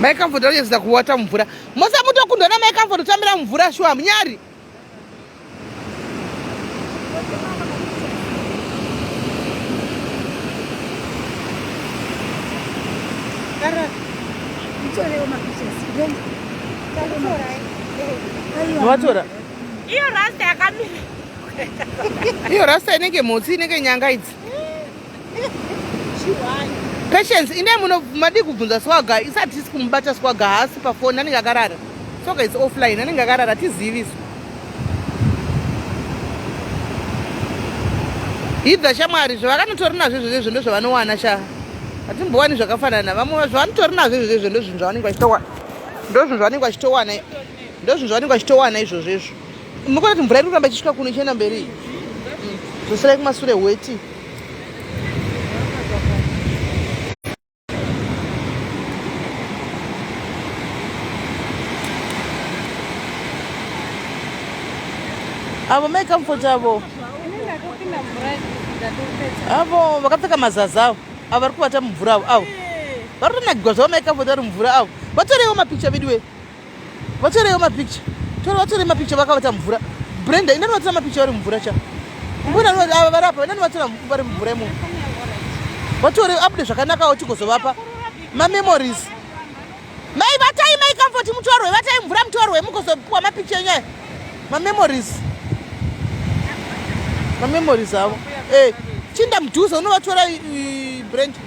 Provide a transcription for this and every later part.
Mai Comfort vachadzidza kuwata mumvura. Mosa mutokundwa na Mai Comfort kutambira mumvura shuwa munyari. vatora iyo rasta yakamira iyo rasta inenge mhotsi inenge nyanga idzi Patience ine muno madi kubvunza swaga isati tisi kumubata swaga haasi pafoni anenge akarara swaga is offline anenge akarara tizivi isu hidha shamwari zvavakanotori nazvo izvozvo izvo ndozvavanowana sha hatimbowani zvakafanana vamwe zvavanotori nazvo izvozvo izvo ndozvinhu zvavanenge vachitowana ndozvinhu zvavanenge vachitowana ndozvinhu zvavanenge vachitowana izvozvo izvo Munoona kuti mvura iri kuramba ichisvika kuno ichienda mberi zvoserai kumasure weti avo mai comfort avo avo vakapfeka mazazi avo avo vari kuvata mumvura avo avo vari kutonakigwa zvavo mai comfort vari mumvura avo vatoreiwo mapicha vidiwe vatorewo mapicture tore vatore mapicture vakavata mvura brenda inani vatora mapicture vari mvura cha mbona ava vari apa inani vatora vari mvura imomo vatore abude zvakanakawo tigozovapa mamemories mai vatai mai comfort mutorwe vatai mvura mutorwe mugozopiwa mapicture enyaya mamemories mamemories avo e eh, chinda mudhuze unovatora brenda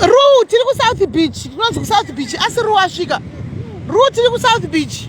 Ruu tiri kuSouth Beach, tinonzi kuSouth Beach asi Ruu asvika. Ruu tiri kuSouth Beach.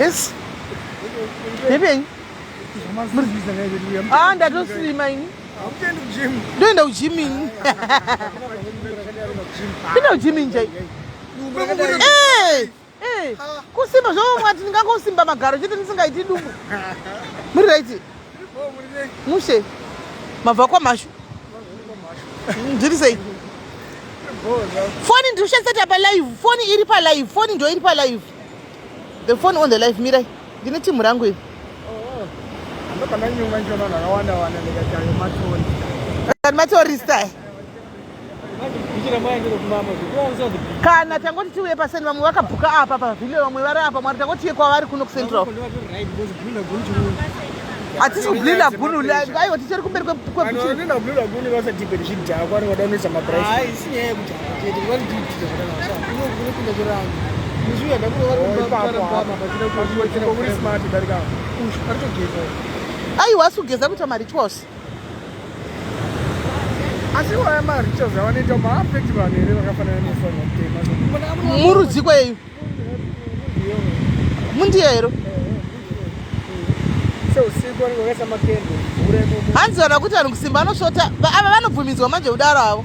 Yes. Ndepei? Ah, ndatosima ini. Ndoenda kujim ini. Ndoenda kujim ini chai. Eh! Eh! Kusimba zvomwati ndingangosimba magaro chete ndisingaiti dumbu. Muri right? mushe mabva kwamhashu ndiri sei foni ndiri kushandisa tapa live foni iri palive foni ndo iri palive the phone on the live mirai ndine timhu rangu iri oh, oh. matorista kana tangoti tiuye paseni vamwe vakabhuka apa pavhile vamwe vari apa mwari tangoti tiye kwavari kuno kucentral hatisi kublinda gunu aiwa tichiri kumberi aiwa asi kugeza kuita marichwose asi vaya marituals avanoita maafekti vanhu here vakafanana nefanwa kutema murudziko yeyu mundiya hero hanzi vana kuti vanhu kusimba anosvota ava vanobvumidzwa manje kudaro avo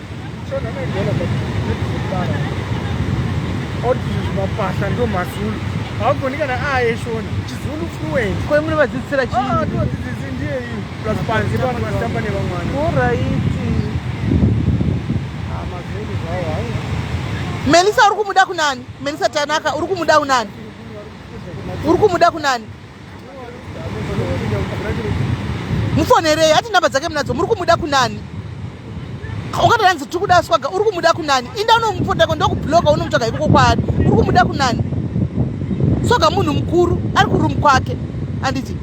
mapasa ndo mazulu haugoni kana aye shona chizulu fluent kwe muri vadzidzisira chii ah, todzidzisi ndiye iyi plus panzi pano vasitamba nevamwana oraiti ah, mazulu zvawo hai melisa uri kumuda kunani melisa tanaka uri kumuda unani uri kumuda kunani mufonerei ati nhamba dzake munadzo muri kumuda kunani ungatoranzi tiri kuda swaga uri kumuda kunani inda unomupotako ndokubloka unomutsvaga ikoko kwaari uri kumuda kunani swaga munhu mukuru ari kurumu kwake anditi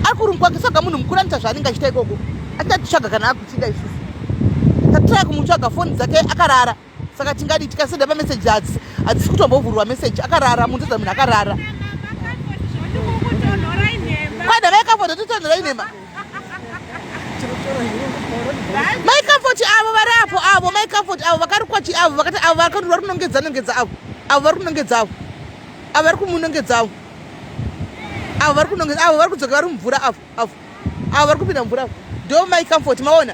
ari kurumu kwake swaga munhu mukuru anoita zvaanenge achiita ikoko atingatitsvaga kana akutsida isusu tatitaya kumutsvaga foni dzake akarara saka tingadi tikasenda pameseji adzi hadzisi kutombovhurwa meseji akarara munhu toda munhu akarara kwana maikafoti totonhora inhema maikafoti avo vari apo avo maikafoti avo vakarikwachi avo vakati avo vakati vari kunongedza nongedza avo avo vari kunongedza avo avo vari kumunongedza avo avo vari kunongedza avo vari kudzoka vari mumvura avo avo avo vari kupinda mvura avo ndo maikafoti maona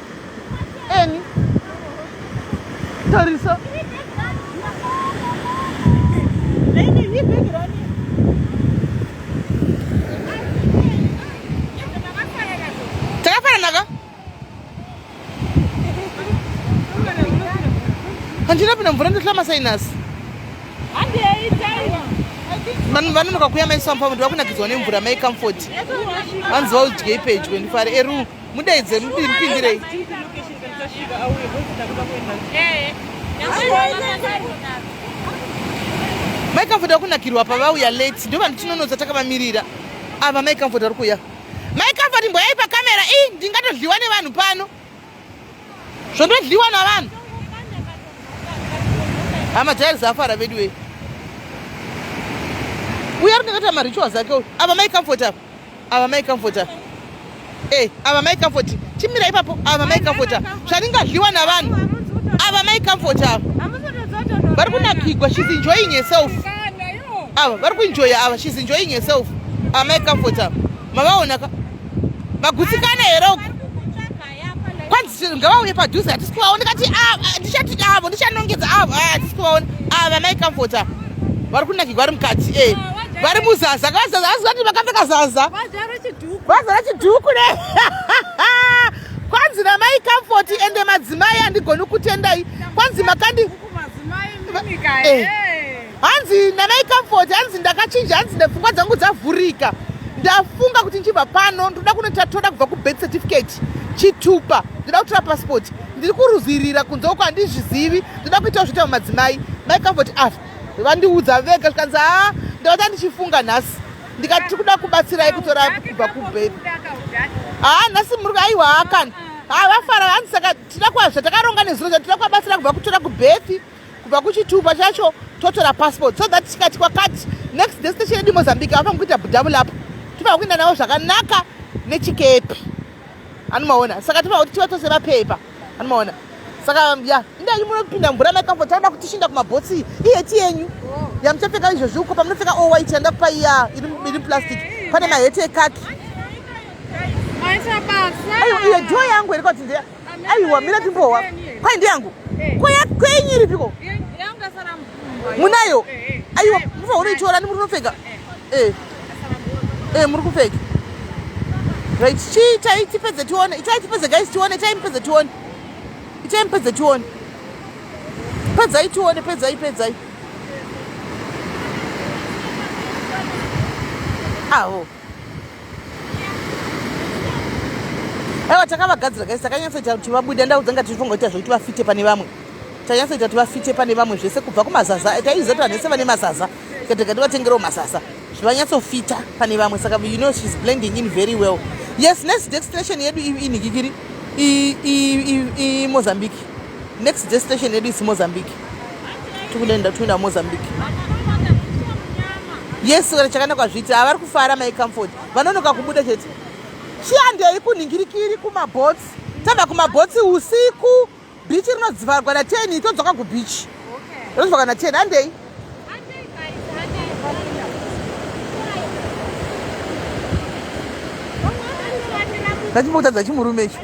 Eni. Tarisa. Takafananaka? Handina pina mvura ndohla masayinasi. Handi yaitaira. vanhu vanonoka kuya maisampa vanhu vakunakidzwa nemvura mai comfort vanzi vaudyei pedyo ndifare eru Mudaidze mupindirei. Mai Comfort vakunakirwa pavauya late ndivo vanhu tinonodza takavamirira ava Mai Comfort vari kuuya Mai Comfort mboyai pakamera i ndingatodliwa nevanhu pano zvondodliwa navanhu hama jairi zafara veduwei uya rinakata marituals ake uyu ava Mai Comfort ava Ava mai comfort ava. Eh, ava mai comfort. Chimira ipapo ava mai comfort ava. Zvaringadliwa navanhu. Ava mai comfort ava. Vari kunakigwa she's enjoying herself. Ava vari kuenjoya ava she's enjoying herself. Ava mai comfort ava. Mavaona ka? Magutsikana here uku? kwanzi ngavauye padhuze hatisi kuvaona kati ah, ah, ndichati avo ndichanongedza avo ah, hatisi kuvaona ava mai kamfota vari kunakigwa vari mukati e eh. vari muzaza kavazaza asi vati vakapfeka zaza vazara chidhuku ne kwanzi namai kamfoti ende madzimai andigoni kutendai kwanzi makandi eh. hanzi namai comfort hanzi ndakachinja hanzi ndepfungwa dzangu dzavhurika ndafunga kuti ndichibva pano ndoda kunoita toda kubva kubirth certificate chitupa ndoda kutora passport ndiri kuruzirira kunze uko handizvizivi ndoda kuitawo zvoita mumadzimai mai comfort a ah, vandiudza vega zvikanzi haa ah, ndakata ndichifunga nhasi ndikati tiri kuda kubatsirai kutora kubva kubirth haa ah, nhasi muri aiwa haakani haa vafara hanzi saka tida kwazvatakaronga nezuro zvatida kwabatsira kubva kutora kubirth kubva kuchitupa chacho totora passport so that tikati kwakati next day station yedu mozambique ava mukuita double up tivava kuenda navo zvakanaka nechikepi anomaona saka tivava kuti tiva tose vapepa anomaona saka ya ndai munopinda mvura maikambo tauda kutishinda kumabhotsi iheti yenyu yamuchapfeka izvozvi uko pamunopfeka o white yanda kupa iya iri plastic pane maheti ekaki iyo joo yangu iri kwatindeya aiwa mira timbowa kwai ndiyangu kwenyu iripiko munayo aiwa mufa unoitora ni muri kunopfeka muri kupfeka right chii chai tipedze tione itai tipedze guys tione chai mupedze tione itai mupedze tione pedzai tione pedzai pedzai aho ah, oh. aiwa takavagadzira guys takanyatsoita kuti vabude ndaudza nga tirifunga kuita zvekuti vafite pane vamwe tanyatsoita kuti vafite pane vamwe zvese kubva kumazaza taiziva kuti vanhu vese vane mazaza tikatega tivatengerewo mazaza zvivanyatsofita pane vamwe saka you know she's blending in very well yes next destination yedu inhikikiri imozambique next destination yedu isi mozambique tikuenda tuina mozambique yes chakana kwazviti avari kufara mai comfort vanonoka kubuda chete chiandei kunhingirikiri kumabotsi tava kumabotsi usiku bichi rinodzivarwa na ten todzoka kubichi rodzivarwa na ten andei ndachimboutadza chimurume icho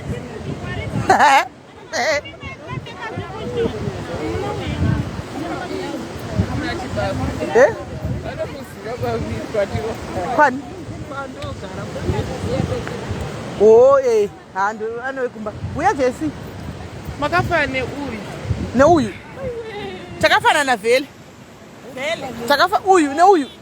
Eh? Kwani? Oh, eh. Hando anowekumba. Uya Jesse. Makafana neuyu. Neuyu. Takafanana vele. Vele. Takafa uyu neuyu.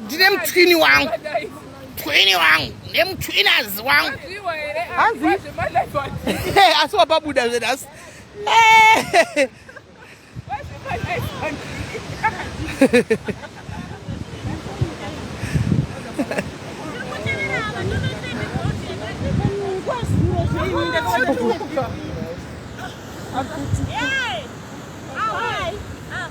ndine mutswini wangu mutswini wangu ndine mutswinazi wangu hanzi asi wapabuda zvenhasi Yeah! All right. Um.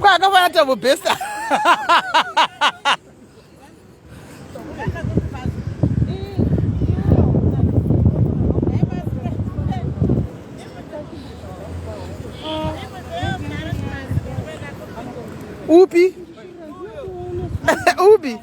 kwakafana tambo besta upi upi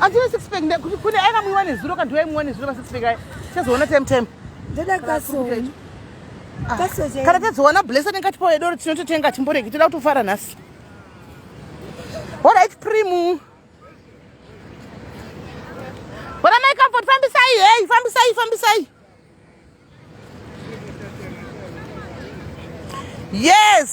ative six pack kune aina muiwa nezuro kana tiva imuwa nezuro masix pack aya tichazoona time time ndoda kasoni ah, kana tazoona blesa nenge atipawo yedoro tinototenga timboreki toda kutofara nhasi horit primu bona mai comfort fambisai hei fambisai fambisai yes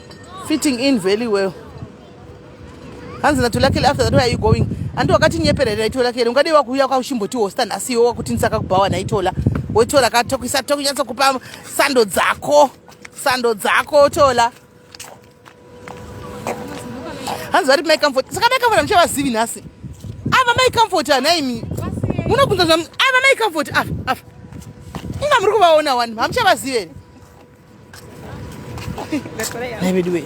fitting in very well hanzi natolakele after that where are you going andi wakatinyeperera naitolakele ungadei wakuuya kwauchimbotihosta nhasi iwe wakuti ndisaka kubhawa naitola wotola katokuisa tokunyatso kupa sando dzako sando dzako tola hanzi vari mai comfort saka mai comfort amuchavazivi nhasi ava mai comfort anaimi munobvunza zva ava mai comfort ava ava inga muri kuvaona wani hamuchavazivi here Nhai veduwe.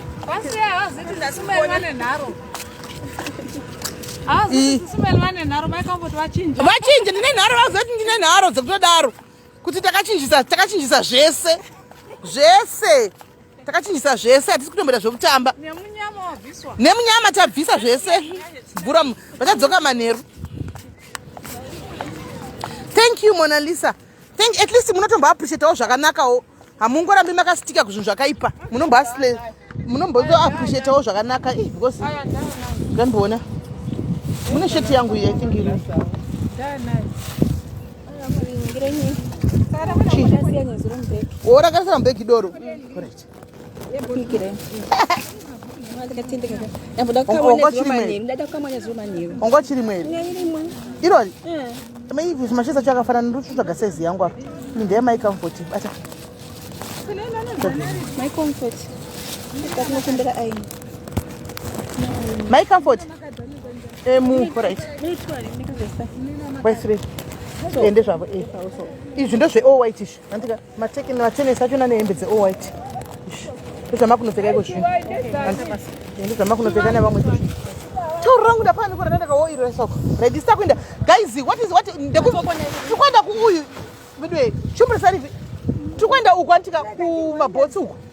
Vachinje ndine nharo vazoti ndine nharo dzekutodaro kuti takachinjisa takachinjisa zvese zvese takachinjisa zvese hatisi kutomboita zvekutamba nemunyama tabvisa zvese bvura vachadzoka manheru thank you monalisa thank at least munotombo appreciatawo zvakanakawo hamungorambi makasitika kuzvinhu zvakaipa munombo asle munombozo appreciatawo zvakanaka eh, because ndamboona mune sheti yangu iyi i think iri worakarisa mubhegi doro right ongo chiri mweri irori maivi macheza cho akafanana ndotsvaga saizi yangu apa ini ndeye mai comfort bata mai comfort tinokumbira aini mai comfort emu right wesre ende zvavo izvi ndozveowaitish andika Matekeni matenesi acho nane hembe dze white. Ndozvamakunopfeka iko zvino. Ndozvamakunopfeka nevamwe iko zvino. Tauro rangu ndapani kura ndataka wo iro soko. Ready sta kuenda. Guys, what is what ndekuzokona. Tikwenda ku uyu. Midwe, shumbrisani. Tikwenda uku antika ku mabotsi uku.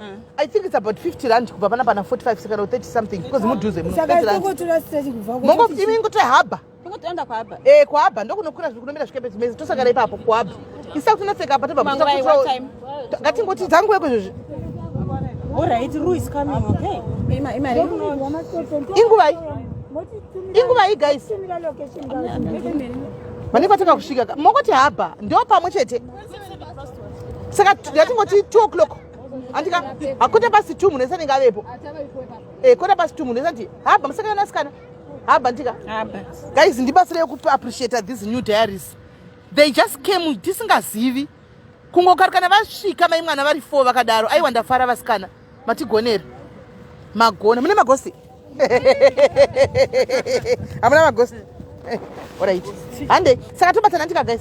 Mm. I think it's about 50 rand kubva pana pana 45 saka no 30 something because mudhuze muno. Saka tokotora straight kubva ku. Mongo imi ngoto haba. Ngotoenda kwa haba. Eh kwa haba ndokunokura zviri kunomira zvikepe zvimezi tosagara ipapo kwa haba. Isa kuti naseka apa tobva kutsaka kutsaka. What time? Ngatingoti dzangu yeko izvozvi. All right, Rue is coming, okay? Ima ima. Inguvai. Inguvai guys. Vanenge vatanga kusvika. Mongoti haba ndio pamwe chete. saka yatingoti two o'clock andika hakota pasi two munhu ese anenge avepo eh, kota pasi two munhu ese ati haba musikana nasikana haba ndika guys ndibatsireyo kuappreciate this new diaries they just came tisingazivi kungokarikana vasvika mai mwana vari four vakadaro aiwa ndafara vasikana matigoneri magona mune magosi hamuna magosi orit hande saka tobatana ndika guys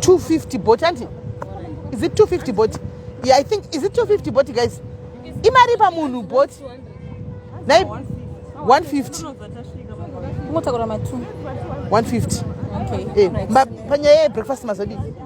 250 bot andi is it 250 bot yeah, i think is it 250 bot guys imari pamunhu bot 150 150 panyaya yebreakfast mazodii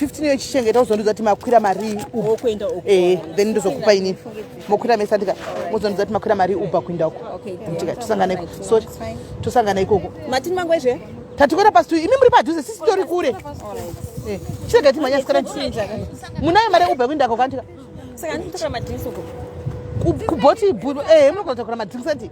15 iyo ichichengeta uzondiudza kuti makwira marii uokuenda uku eh then ndizokupa ini mokwira mesa ndika muzondiudza kuti makwira marii ubva kuenda uku ndika tosangana iko so tosangana ikoko matini mangu ezve tatikwera pasi imi muri padhuze sisi tori kure eh, chirega timanyasikaa munayo mari ubva kuenda ko kandika kubhoti eh munokotakura madrinks ati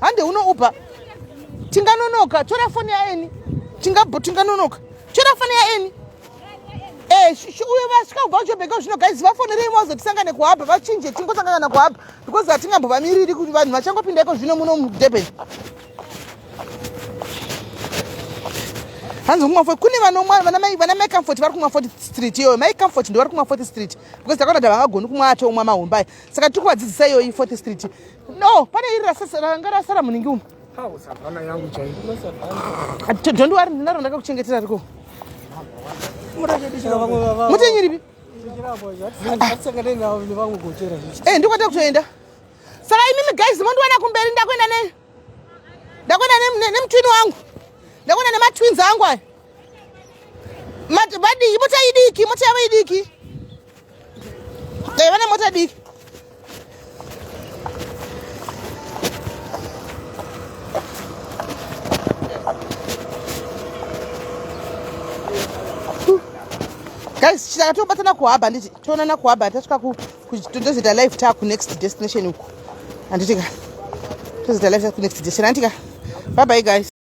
hande uno uber tinganonoka tora foni yaeni tingabho tinganonoka tora foni yaeni eh, uyo vasvika kubva kuchobheka zvino guys vafonerei mazo tisangane kuhaba vachinje tingosangana kuhaba because hatingambovamiriri kuti vanhu vachangopinda iko zvino muno mudurban hanzi kumwa foti kune vanomwa vana mai vana mai comfort vari kumwa foti street iyoyo mai comfort ndo vari kumwa foti street because takaona kuti havangagoni kumwa atomwa mahombai saka tiri kuvadzidzisa iyoyi foti street No, pane iri rasasa ranga rasara muningi umu. Hawo savana yangu chai. Ah, don't worry, ndinaro ndakakuchengetera riko. Murachedishira vamwe vava. Mutenyi ripi? Eh, ndikwata kutoenda. Saka imimi guys mondiwana kumberi ndakwenda ne ndakwenda nemutwini wangu. Ndakwenda nematwins angu aya. Vadii, mota idiki, mota yavo idiki. Dai vane mota diki. Guys, chitaka tobatana kuhaba nditi toonana kuhaba tasvika ku tozoita live ta ku next destination uko. Anditi ka. Tozoita live ta ku next destination anditi ka. Bye bye guys.